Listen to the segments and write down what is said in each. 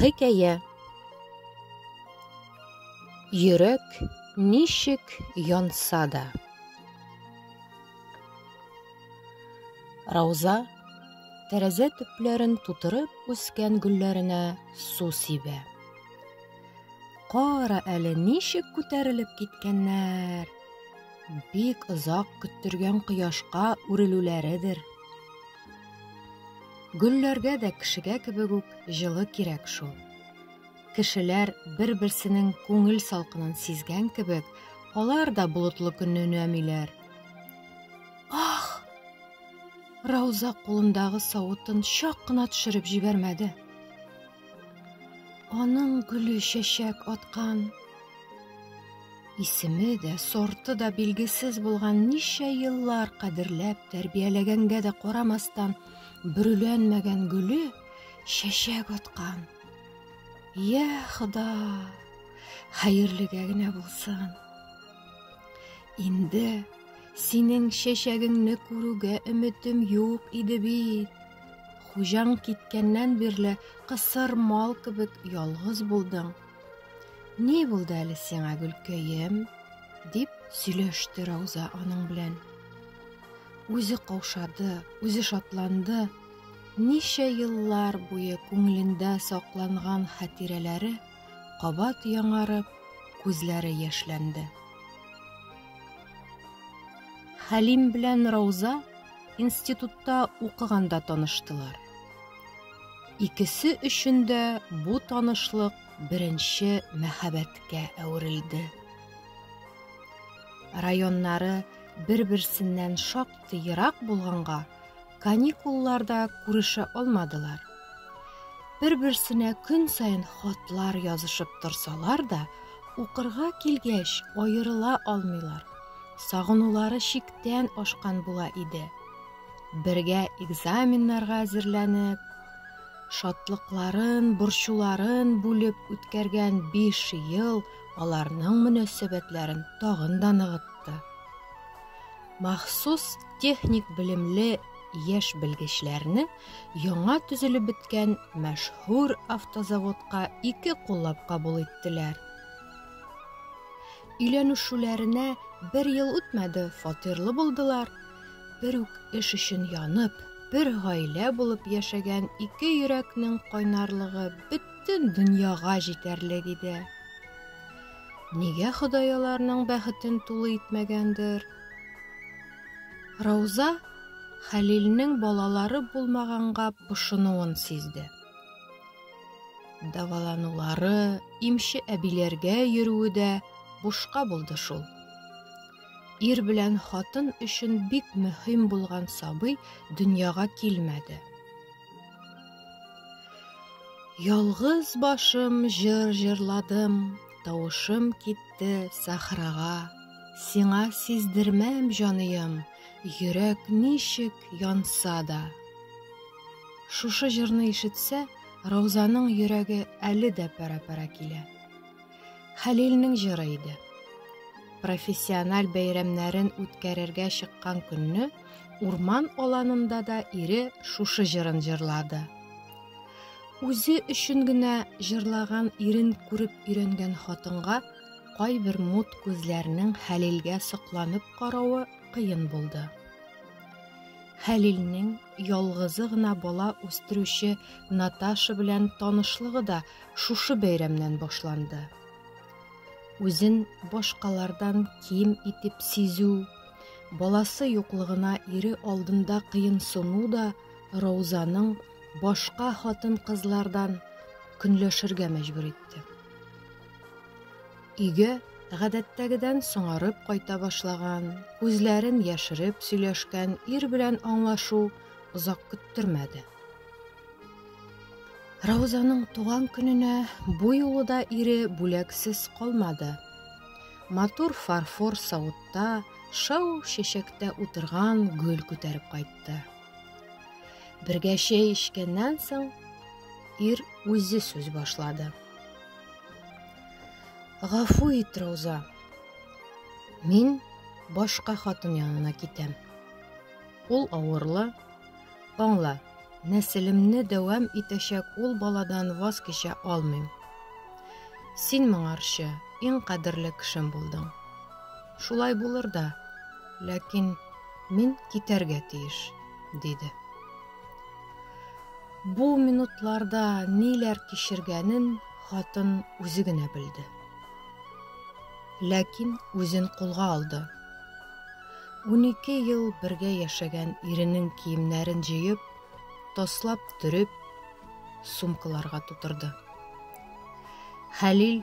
Хикәя Йөрәк ничек янса да Рауза тәрәзә төпләрен тутырып үскән гөлләренә су сибә. Кара әле ничек күтәрелеп киткәннәр. Бик озак көттергән кояшка үрелүләредер. Гөлләргә дә кешегә кебек үк җылы кирәк шул. Кешеләр бер-берсенең күңел салкынын сизгән кебек, алар да болытлы көнне өнәмиләр. Ах! Рауза кулындагы савытын чак кына төшереп җибәрмәде. Аның гөле чәчәк аткан. Исеме дә, сорты да билгесез булган ничә еллар кадерләп тәрбияләгәнгә дә карамастан, бөрүләнмәгән гөле чәчәк аткан. Я, Хода, хәерлегә генә булсын. Инде синең чәчәгеңне күрүгә өметем юк иде бит. Хуҗаң киткәннән бирле кысыр мал кебек ялгыз булдың. Ни булды әле сиңа, Гөлкәем? дип сөйләште Рауза аның белән. Үзе каушады, үзе шатланды. Ничә еллар буе күңелендә сакланган хатирәләре кабат яңарып, күзләре яшьләнде. Хәлим белән Рауза институтта укыганда таныштылар. Икесе өчен дә бу танышлык беренче мәхәббәткә әверелде. Районнары бер-берсеннән шактый ерак булганга, каникулларда күрешә алмадылар. Бер-берсенә көн саен хатлар язышып торсалар да, укырга килгәч аерыла алмыйлар. Сагынулары чиктән ашкан була иде. Бергә экзаменнарга әзерләнеп, шатлыкларын, борчуларын бүлеп үткәргән 5 ел аларның мөнәсәбәтләрен тагын да ныгытты. Махсус техник белемле яшь белгечләрне Яңа төзелеп беткән мәшһүр автозаводка ике куллап кабул иттеләр. Өйләнешүләренә бер ел үтмәде, фатирлы булдылар. Бер үк эш өчен янып, бер гаилә булып яшәгән ике йөрәкнең кайнарлыгы бөтен дөньяга җитәрлек иде. Нигә Ходай аларның бәхетен тулы итмәгәндер? Рауза Хәлилнең балалары булмаганга пошынуын сизде. Даваланулары, имче әбиләргә йөрүе дә бушка булды шул. Ир белән хатын өчен бик мөһим булган сабый дөньяга килмәде. Ялгыз башым җыр җырладым, Тавышым китте сахрага, Сиңа сиздермәм, җаныем, Йөрәк ничек янса да. Шушы җырны ишетсә, Раузаның йөрәге әле дә пәрә-пәрә килә. Хәлилнең җыры иде. Профессиональ бәйрәмнәрен үткәрергә чыккан көнне Урман аланында да ире шушы җырын җырлады. Үзе өчен генә җырлаган ирен күреп өйрәнгән хатынга кайбер мут күзләрнең Хәлилгә сокланып каравы кыен булды. Хәлилнең ялгызы гына бала үстерүче Наташа белән танышлыгы да шушы бәйрәмнән башланды. Үзен башкалардан ким итеп сизү, баласы юклыгына ире алдында кыенсыну да Раузаның башка хатын-кызлардан көнләшергә мәҗбүр итте. Өйгә гадәттәгедән соңарып кайта башлаган, күзләрен яшереп сөйләшкән ир белән аңлашу озак көттермәде. Раузаның туган көненә бу юлы да ире бүләксез калмады. Матур фарфор савытта шау шешәктә утырган гөл күтәреп кайтты. Бергә чәй эчкәннән соң ир үзе сүз башлады. Гафу ит, Рауза. Мин башка хатын янына китәм. Ул авырлы, Аңла, нәселемне дәвам итәчәк ул баладан ваз кичә алмыйм. Син моңарчы иң кадерле кешем булдың. Шулай булыр да, ләкин мин китәргә тиеш, диде. Бу минутларда ниләр кичергәнен хатын үзе генә белде. Ләкин үзен кулга алды. Унике ел бергә яшәгән иренең киемнәрен җыеп, таслап төреп, сумкаларга тутырды. Хәлил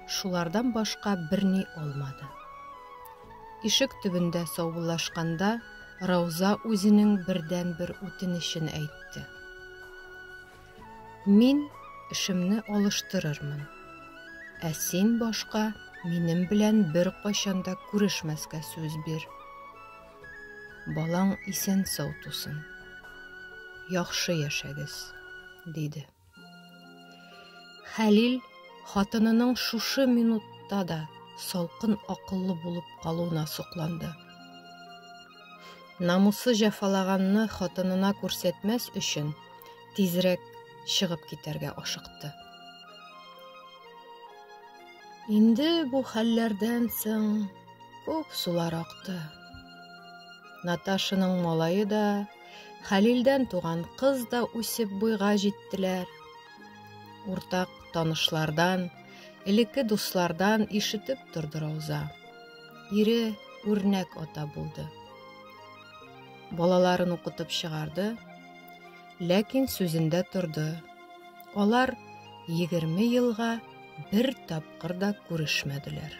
шулардан башка берни алмады. Ишек төбендә саубуллашканда Рауза үзенең бердәнбер үтенечен әйтте. Мин эшемне алыштырырмын. Ә син башка минем белән бер кайчан да күрешмәскә сүз бир. Балаң исән сау тусын. Яхшы яшәгез, диде. Хәлил хатынының шушы минутта да салкын акыллы булып калуына сокланды. Намусы җәфалаганны хатынына күрсәтмәс өчен, тизрәк чыгып китәргә ашыкты. Инде бу хәлләрдән соң күп сулар акты. Наташының малае да, Хәлилдән туган кыз да үсеп буйга җиттеләр. Уртак танышлардан, элекке дуслардан ишетеп торды Рауза. Ире үрнәк ата булды. Балаларын укытып чыгарды, ләкин сүзендә торды. Алар 20 елга бер тапкыр да күрешмәделәр.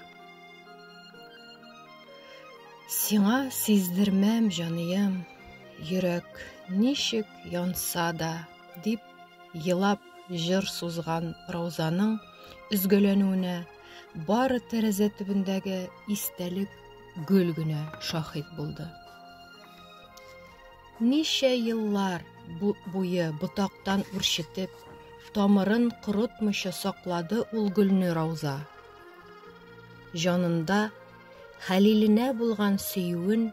Сиңа сиздермәм, җаныем, йөрәк ничек янса да, дип елап җыр сузган Раузаның өзгәләнүенә Бары тәрәзә төбендәге истәлек гөл генә шаһит булды. Ничә еллар бу буе ботактан үрчетеп, тамырын корытмыйча саклады ул гөлне Рауза. Җанында Хәлиленә булган сөюен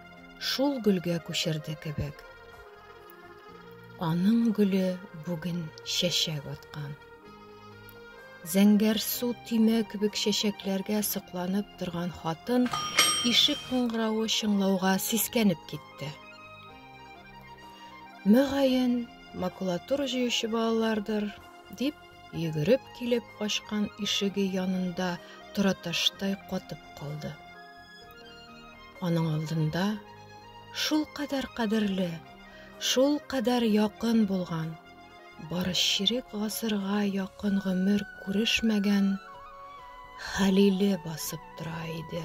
шул гөлгә күчерде кебек. Аның гөле бүген чәчәк аткан. Зәңгәр су тимә кебек чәчәкләргә сокланып торган хатын ишек кыңгыравы чыңлауга сискәнеп китте. Мөгаен, макулатура җыючы балалардыр, дип йөгереп килеп ачкан ишеге янында тораташтай катып калды. Аның алдында шул кадәр кадерле, шул кадәр якын булган Бары чирек гасырга якын гомер күрешмәгән Хәлиле басып тора иде.